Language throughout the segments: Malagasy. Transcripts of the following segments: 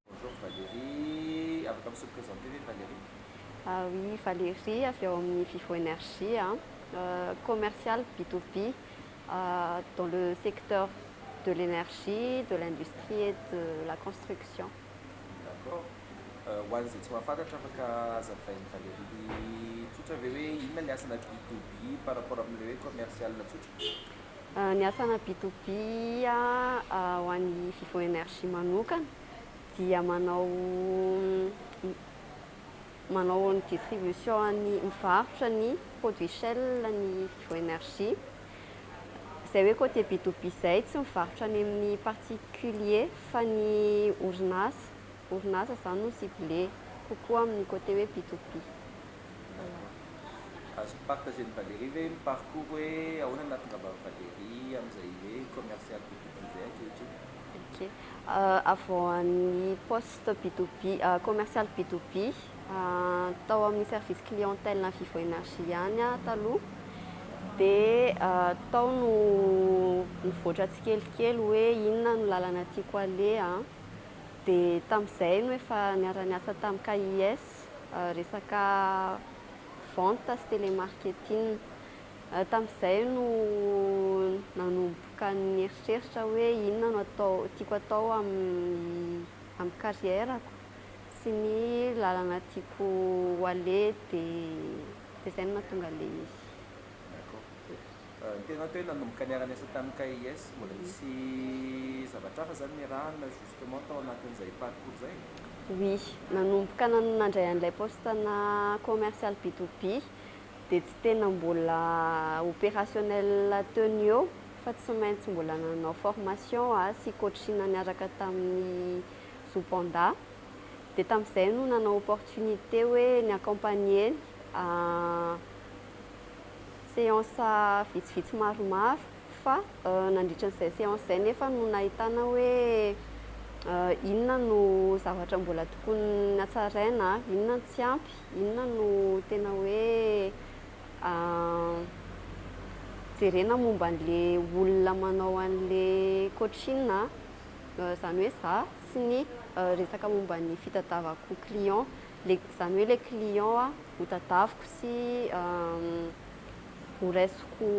Bonjour Valérie, afaka mi se presenter ve Valérie? Ah oui, Valérie avy ao amin'ny Vivo Energie a, commerciale B2B dans le secteur de l'energie, de l'industrie et de la construction. D'accord, ho an'izay tsy mahafantatra afaka azavain'i Valérie tsotra ve hoe inona ny asanà B2B par rapport amin'ilay hoe commerciale tsotra? Ny asana B to B ho an'ny Vivo Energy manokana dia manao manao ny distribution-ny, mivarotra ny produits Shell ny Vivo Energy. Izay hoe côté B to B izay tsy mivarotra any amin'ny particulier fa ny orinasa, orinasa izany no ciblé kokoa amin'ny côté hoe B to B. Azon'i Parc Eugène Valéry ve ny parcours hoe ahoana ny nahatongavan'i Valéry amin'izay hoe commercial be tokoa izay ankehitriny? Ok, avoahan'ny poste Bidobi, commercial Bidobi, tao amin'ny service clientèle an'ny Vivo Energy ihany aho taloha, dia tao no nivoatra tsikelikely hoe inona no lalana tiako aleha, dia tamin'izay no efa niara-niasa tamin'ny KIS, resaka vente sy telemarketing. Tamin'izay no nanomboka nieritreritra hoe inona no atao tiako atao amin'ny amin'ny carrière-ko sy ny lalana tiako ho aleha dia dia izay no nahatonga an'ilay izy. D'accord. Ny tenako hoe nanomboka niara-ny asa tamin'ny KIS mbola nisy zavatra hafa zany niarahana justement tao anatin'izay parcours izay? Oui, nanomboka nandray an'ilay poste-na commercial B to B dia tsy tena mbola opérationnel teo ny eo fa tsy maintsy mbola nanao formation a sy coaching niaraka tamin'ny Zo Panda dia tamin'izay no nanao opportunité hoe ni-accompagner ny Séance vitsivitsy maromaro fa nandritra an'izay séance izay nefa no nahitana hoe inona no zavatra mbola tokony hatsaraina, inona no tsy ampy, inona no tena hoe jerena momba an'ilay olona manao an'ilay coaching, izany hoe izaho sy ny resaka momba ny fitadiavako client. le zany hoe le client a ho tadaviko sy ho raisiko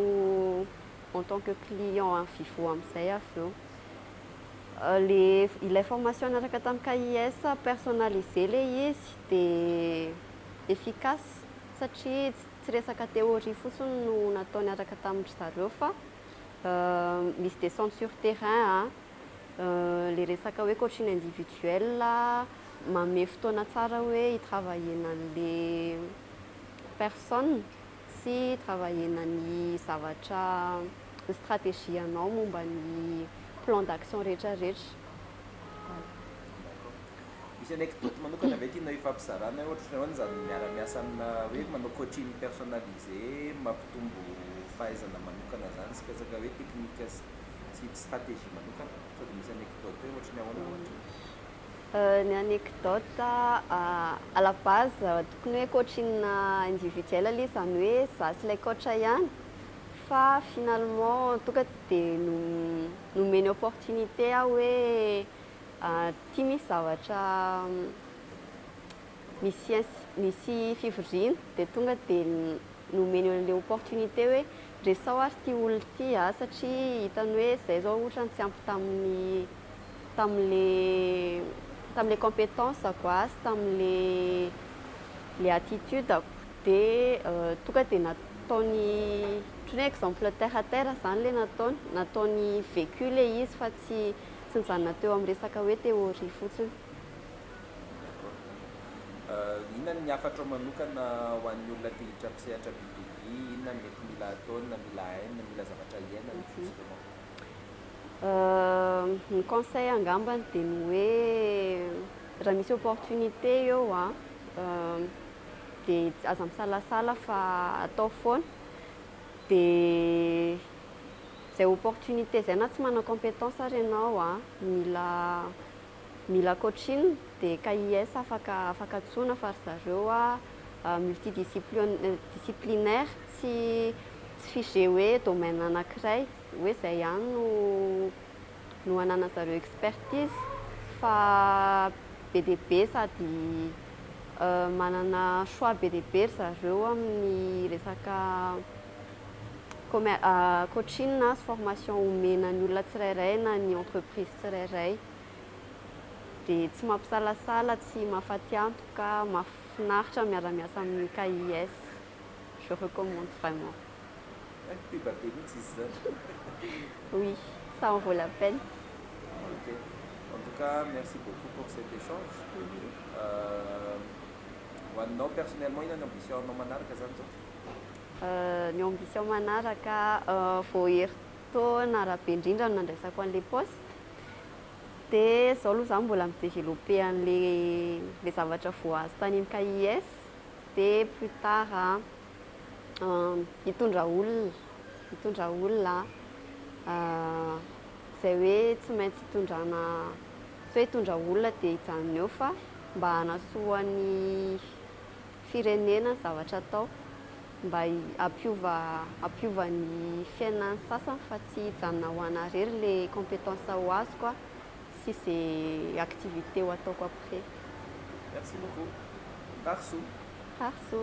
en tant que client any vivo amizay avy eo le ilay formation niaraka tam KIS personnalisé le izy de efficace satria tsy resaka théorie fotsiny no natao niaraka tam ry zareo fa misy descente sur terrain a. Le resaka hoe coaching individuel manome fotoana tsara hoe hi travailler-na an'le personne sy hi travailler-na ny zavatra ny stratégie anao momba ny plan d'action retraretra. Misy anecdote manokana ve tianao hifampizarana hoe ohatr'izao ny zany miara miasa amina hoe manao coaching personnalisé mampitombo fahaizana manokana zany sy resaka hoe technique sy. tsy tsy stratégie manokana sao dia misy anecdote hoe ohatry ny ahoana ohatry ny Ny anecdote à la base tokony hoe coaching individuel aloha izy izany hoe za sy ilay coach ihany fa finalement tonga dia nomeny opportunité aho hoe ity misy zavatra misy misy fivoriana dia tonga dia nomeny an'ilay opportunité hoe Resaho ary ity olona ity a, satria hitany hoe izay izao otrany tsy ampy tamin'ny tamin'le tamin'le competence-ko a sy tamin'le le attitude-ko de tonga de nataony otrany hoe exemple terre à terre zany le nataony, nataony vécu le izy fa tsy tsy nijanona teo amin'ny resaka hoe théorie fotsiny. D'accord. Inona ny hafatrao manokana ho an'ny olona te hiditra amin'ny sehatra biblique? Hi inona ny mety mila ataony na mila hainy na mila zavatra hiainany justement? Ny conseil angambany dia ny hoe raha misy opportunité eo an, dia aza misalasala fa atao foana, dia izay opportunité izay na tsy manana compétence ary ianao an, mila Mila coaching de KIS afaka afaka antsoina fa ry zareo a multidisciplion disciplinaire tsy tsy figé hoe domaine anakiray hoe zay ihany no no anana zareo expertise fa be dia be sady manana choix be dia be ry zareo amin'ny resaka Coaching na formation omena ny olona tsirairay na ny entreprise tsirairay dia tsy mampisalasala, tsy mahafatiantoka, mahafinaritra ny miara-miasa amin'ny KIS. Je recommande vraiment. Teba be mihitsy izy izany. Oui, ça en vaut la peine. Ok. En tout cas, merci beaucoup pour cet échange. Ho anao personnellement, inona ny ambition-nao manaraka izany izao? Ny ambition manaraka vao herintaona arabe indrindra no nandraisako an'ilay poste dia izao aloha izaho mbola mi-developper an'ilay ilay zavatra voahazo tany amin'ny KIS dia plus tard hitondra olona hitondra olona aho izay hoe tsy maintsy hitondrana tsy hoe hitondra olona dia hijanona eo fa mba hanasoa ny firenena zavatra atao mba hampiova hampiova ny fiainan'ny sasany fa tsy hijanona ho ana irery le compétence ho azoko a sy ze activité ho ataoko après. Merci beaucoup. Tarso. Tarso.